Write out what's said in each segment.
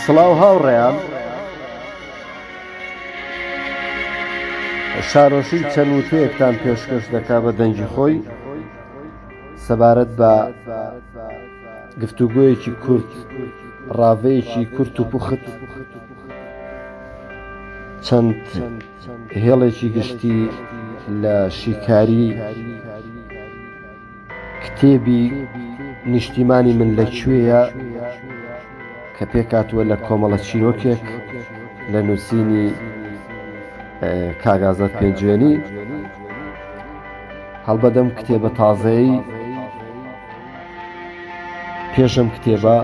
سڵاو هاوڕێیان شارۆشی چەند وتەیەکتان پێشکەش دەکا بە دەنگی خۆی سەبارەت بە گفتوگویەکی کورت ڕاڤەیەکی کورت و پوخت چەند هێڵێکی گشتی لە شیکاری کتێبی نیشتیمانی من لە کوێیە کە پێکاتوە لە کۆمەڵە چیرۆکێک لە نووسینی کاگازە پێنجوێنی هەڵبەدەم کتێبە تازەی پێشم کتێبە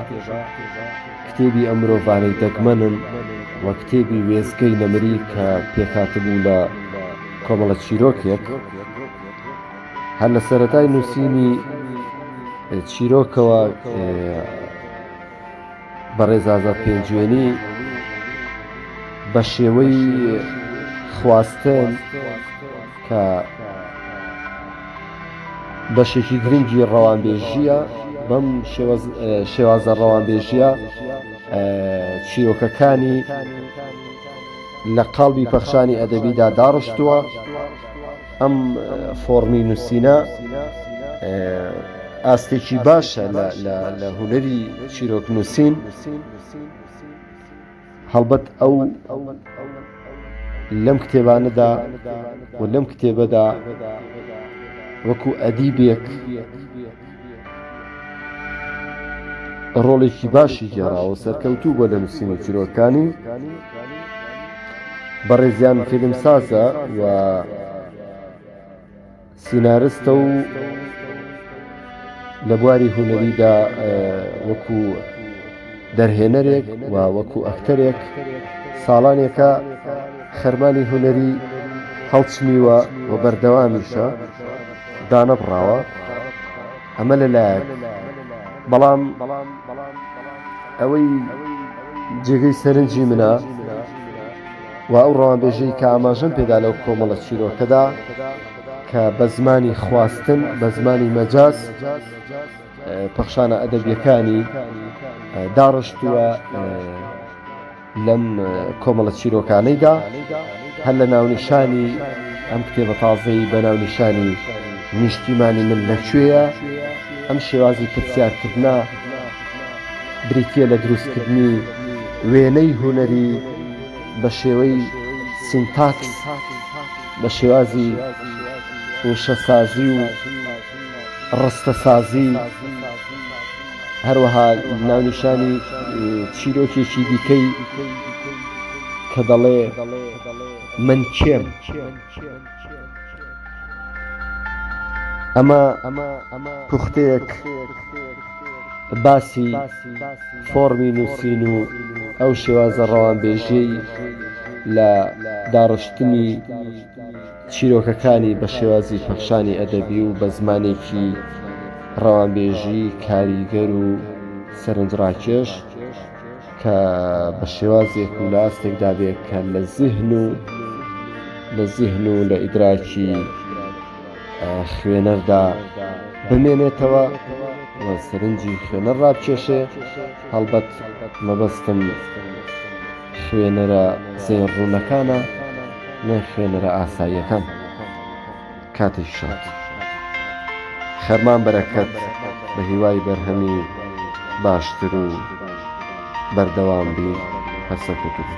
کتێبی ئەم مرۆڤانەی دەگمەنن و کتێبی وێزگەی نەمری کە پێکاتبوو لە کۆمەڵە چیرۆکێک هەر لە سەرەتای نووسینی چیرۆکەوە بەڕێزازە پێنجوێنی بە شێوەی خواستن کە بەشێکی گرنگی ڕەوانبێژیە بەم شێوازە ڕەوانبێژیە چیرۆکەکانی لە قاڵبی پەخشانی ئەدەبیدا داڕشتووە ئەم فۆڕمی نووسینە ئاستێکی باشە لە هوەری چیرۆک نووسین هەڵبەت ئەو لەم کتێبانەدا و لەم کتێبەدا وەکو ئەدیبێک ڕۆڵێکی باشی گێڕاوە سەرکەوتوو بۆ لە نووسینی چیرۆکانی بەڕێزیان فیلم سازە و سینارستە و لە بواری هوەریدا وەکو دەرهێنەرێک و وەکو ئەکتەرێک ساڵانێکە خەرمانی هوەری هەڵچنیوە و بەردەوامیشە دانەبڕاوە ئەمە لە لایەک بەڵام بەڵام بەڵام ئەوەی جێگەی سەرنجی منە و ئەو ڕوانبێژەی کە ئاماژەم پێدا لەو کۆمەڵە چیرۆکەدا کە بە زمانی خواستن بە زمانی مەجاز پەخشانە ئەدەبیەکانی داڕشتووە لەم کۆمەڵە چیرۆکانەیدا هەر لە ناونیشانی ئەم کتێبە تازەی بە ناونیشانی نیشتیمانی من لەکوێیە ئەم شێوازی پرسیارکردنا بریتە لە دروستکردنی وێنەی هوەری بە شێوەی سینتاکس بە شێوازی وشەسازی و ڕستەسازی هەروەها ناونیشانی چیرۆکێکی دیکەی کە دەڵێ من کێم ئەمە پوختەیەک باسی فۆرمی نووسین و ئەو شێوازە ڕەوانبێژەی لە داڕشتنی چیرۆکەکانی بە شێوازی پەخشانی ئەدەبی و بە زمانێکی ڕەوانبێژی کاریگەر و سەرنجڕاکێش کە بە شێوازێک و لە ئاستێکدا بێت کە لە زیهن و لە زیهن و لە ئیدراکی خوێنەردا بمێنێتەوە سەرنجی خوێنەر ڕابکێشێ هەڵبەت مەبەستم خوێنەرە زێن ڕونەکانە نە خوێنەرە ئاساییەکان کاتی شاد خەرمان بەرەکەت بە هیوای بەرهەمی باشتر و بەردەوام بی هەر سەرکەوتوبی.